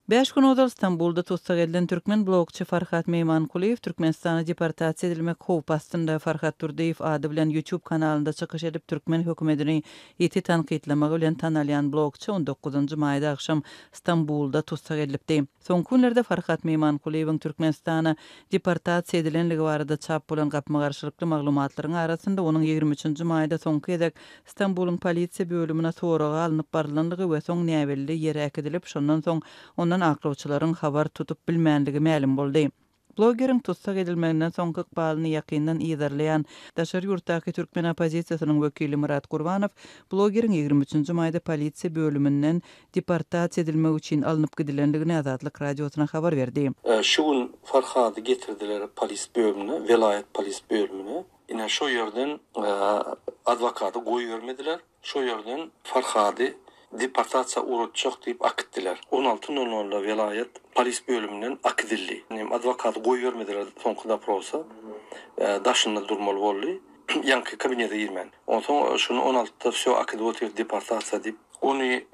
Bäş gün ozal Stambulda tussag edilen türkmen blogçy Farhat Meýmankulyýew Türkmenistana deportasiýa edilmek howpy astynda. Farhat Durdyýew ady bilen YouTube kanalynda çykyş edip, türkmen hökümetini ýiti tankytlamagy bilen tanalýan blogçy on dokuzynjy maýda agşam Stambulda tussag edilipdi. Soňky günlerde Farhat Meýmankulyýewiň Türkmenistana deportasiýa edilenligi barada çap bolan gapma-garşylykly maglumatlaryň arasynda onuň ýigrimi üçünji maýda soňky gezek Stambulyň polisiýa bölümine soraga alnyp barylandygy we soň näbelli ýere äkidilip, şondan soň ondan aklawçylaryň habar tutup bilmändigi mälim boldy. Blogeriň tussag edilmeginden soňky ykbalyny ýakyndan yzarlaýan daşary ýurtdaky türkmen oppozisiýasynyň wekili Myrat Gurbanow blogeriň ýigrimi üçünji maýda polisiýa bölüminden deportasiýa edilmek üçin alnyp gidilendigini Azatlyk Radiosyna habar berdi. Şu gün Farhady getirdiler polis bölümine, welaýat polis bölümine. Ine, şo ýerden adwokaty goýbermediler, şo ýerden Farhady deportasiýa ugratjak diýip akitdiler. On alty nol nolda welaýat polis bölüminden akidildi. Adwokaty goýbermediler soňky doprosa, daşynda durmaly boldy, ýaňky kabinete girmän. Onsoň şuny on altyda wsýo akidip otyr deportasiýa diýip. Ony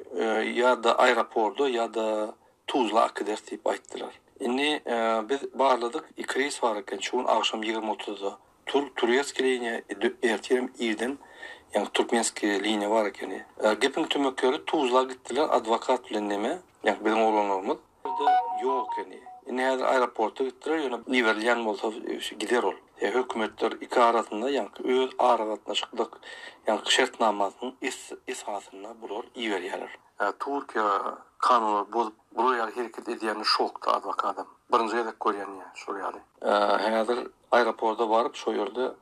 ýa-da aeroporda, ýa-da Tuzla akyders diýip aýtdylar. Indi biz barladyk, iki reýs bar eken, şu gün agşam ýigrimi otuzda tur, turewskiý liniýa, ertirem irden, ýagny türkmenskiý liniýa bar ekeni. Gepiň tümek ýeri, Tuzla gitdiler, adwokat bilen neme, ýagny biziň oglanlarymyz. Bizde ýok ekeni. Indi häzir aeroporta gitdiler, ýöne iberilýän bolsa gider ol. Hökümetler iki arasynda, ýagny öz aragatnaşyklyk, ýagny şertnamasynyň esasynda bular iberýärler. Türkiýe kanunlary bozup bular ýaly hereket edýänine şokda adwokadam. Birinji gezek görýän ýa şol ýaly. Häzir aeroporda baryp şo ýerde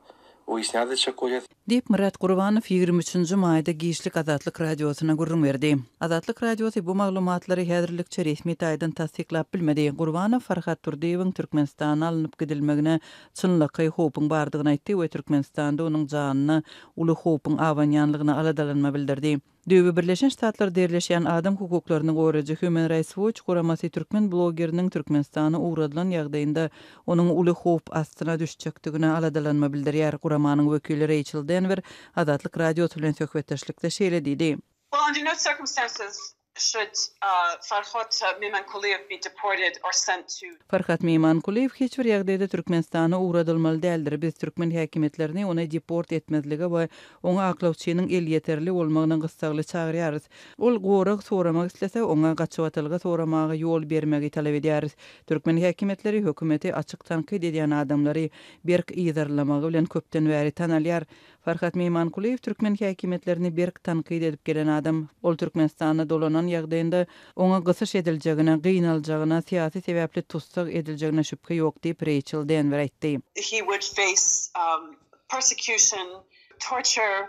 wyýasnýat etjek bolýas. Diýip, Myrat Gurbanow ýigrimi üçünji maýda giçlik Azatlyk Radiosyna gürrüň berdi. Azatlyk Radiosy bu maglumatlary häzirlikçe resmi taýdan tassyklap bilmedi. Gurbanow Farhad Durdyýewiň Türkmenistana alnyp gidilmegine çynlakaý howpuň bardygyny aýtdy we Türkmenistanda onuň janyna uly howpuň abanýanlygyna aladalanma bildirdi. Döwü Birleşen Ştatlarda ýerleşýän adam hukuklaryny goraýjy Human Rights Watch guramasy türkmen blogeriniň Türkmenistana ugradylan ýagdaýynda onuň uly howp astyna düşjekdigine aladalanma bildirýär. Guramanyň wekili Reýçel Denwer Azatlyk Radiosy bilen söhbetdeşlikde şeýle diýdi. Well, under no circumstances should Farhad Memankuliýew be deported or sent to. Farhad Memankuliýew hiç bir ýagdaýda Türkmenistana ugradylmaly däldir. Biz türkmen häkimiýetlerini ony deport etmezlige we Oňa aklawçynyň elýeterli bolmagyna gyssagly çagyrýarys. Ol gorag soramak islese, oňa gaçybatylgy soramaga ýol bermegi talap edýäris. Türkmen häkimiýetleri hökümeti açyk tankyt edýän adamlary berk yzarlamagy bilen köpden bäri tanalýar. Farhat Meýmankulyýew türkmen häkimiýetlerini berk tankyt edip gelen adam. Ol Türkmenistana dolanan ýagdaýynda, oňa gysyş ediljegine, gynaljagyna, syýasy sebäpli tussag ediljegine şübhe ýok diýip, Reýçel Denwer aýtdy. persecution, torture,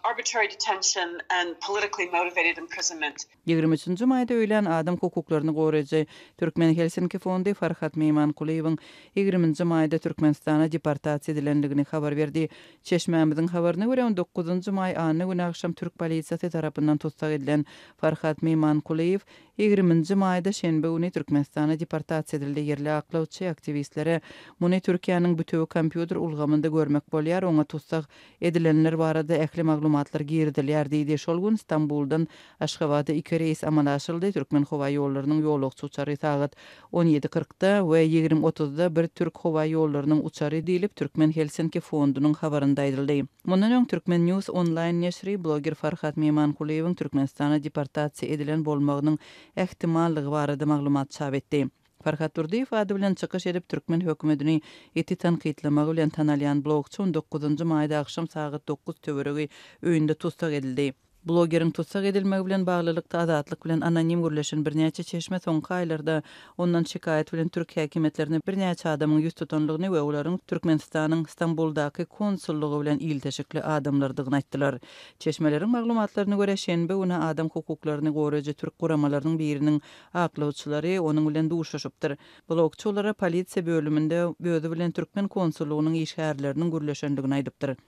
arbitrary detention and politically motivated imprisonment. Ýigrimi üçünji maýda öýlän adam hukuklaryny goraýjy Türkmen Helsinki fondy Farhat Meýmankulyýewiň ýigriminji maýda Türkmenistana deportasiýa edilendigini habar berdi. Çeşmämiziň habaryna görä, on dokuzynjy maý anna güni agşam türk polisiýasy tarapyndan tussag edilen Farhat Meýmankulyýew Ýigriminji maýda şenbe güni Türkmenistana deportasiýa edildi. Ýerli aklawçy, aktiwistlere muny Türkiýäniň bütewi kompýuter ulgamynda görmek bolýar, oňa tussag edilenler barada ähli maglumatlar girizilýär diýdi. Şol gün Stambuldan Aşgabada iki reýs amala aşyryldy. Türkmenhowaýollarynyň ýolagçy uçary sagat On ýedi kyrkda we ýigrimi otuzda bir türk howa ýollarynyň uçary diýlip, Türkmen Helsinki fondunyň habarynda aýdyldy. Mundan öň Türkmen News onlaýn neşiri bloger Farhat Memankulyýewiň Türkmenistana deportasiýa edilen bolmagynyň ähtimallygy barada maglumat çap etdi. Farhat Durdyýew ady bilen çykyş edip, türkmen hökümetini ýiti tankytlamagy bilen tanalýan blogçy on dokuzynjy maýda agşam sagat dokuz töweregi öýünde tussag edildi. Blogeriň tussag edilmegi bilen baglylykda Azatlyk bilen anonim gürleşen birnäçe çeşme soňky aýlarda ondan şikaýat bilen türk häkimiýetlerine birnäçe adamyň ýüz tutandygyny we olaryň Türkmenistanyň Stambuldaky konsullygy bilen ilteşikli adamlardygyny aýtdylar. Çeşmeleriň maglumatlaryna görä, şenbe güni adam hukuklaryny goraýjy türk guramalarynyň biriniň aklawçylary onuň bilen duşuşypdyr. Blogçy olara polisiýa bölüminde özi bilen türkmen konsullygynyň işgärleriniň gürleşendigini aýdypdyr.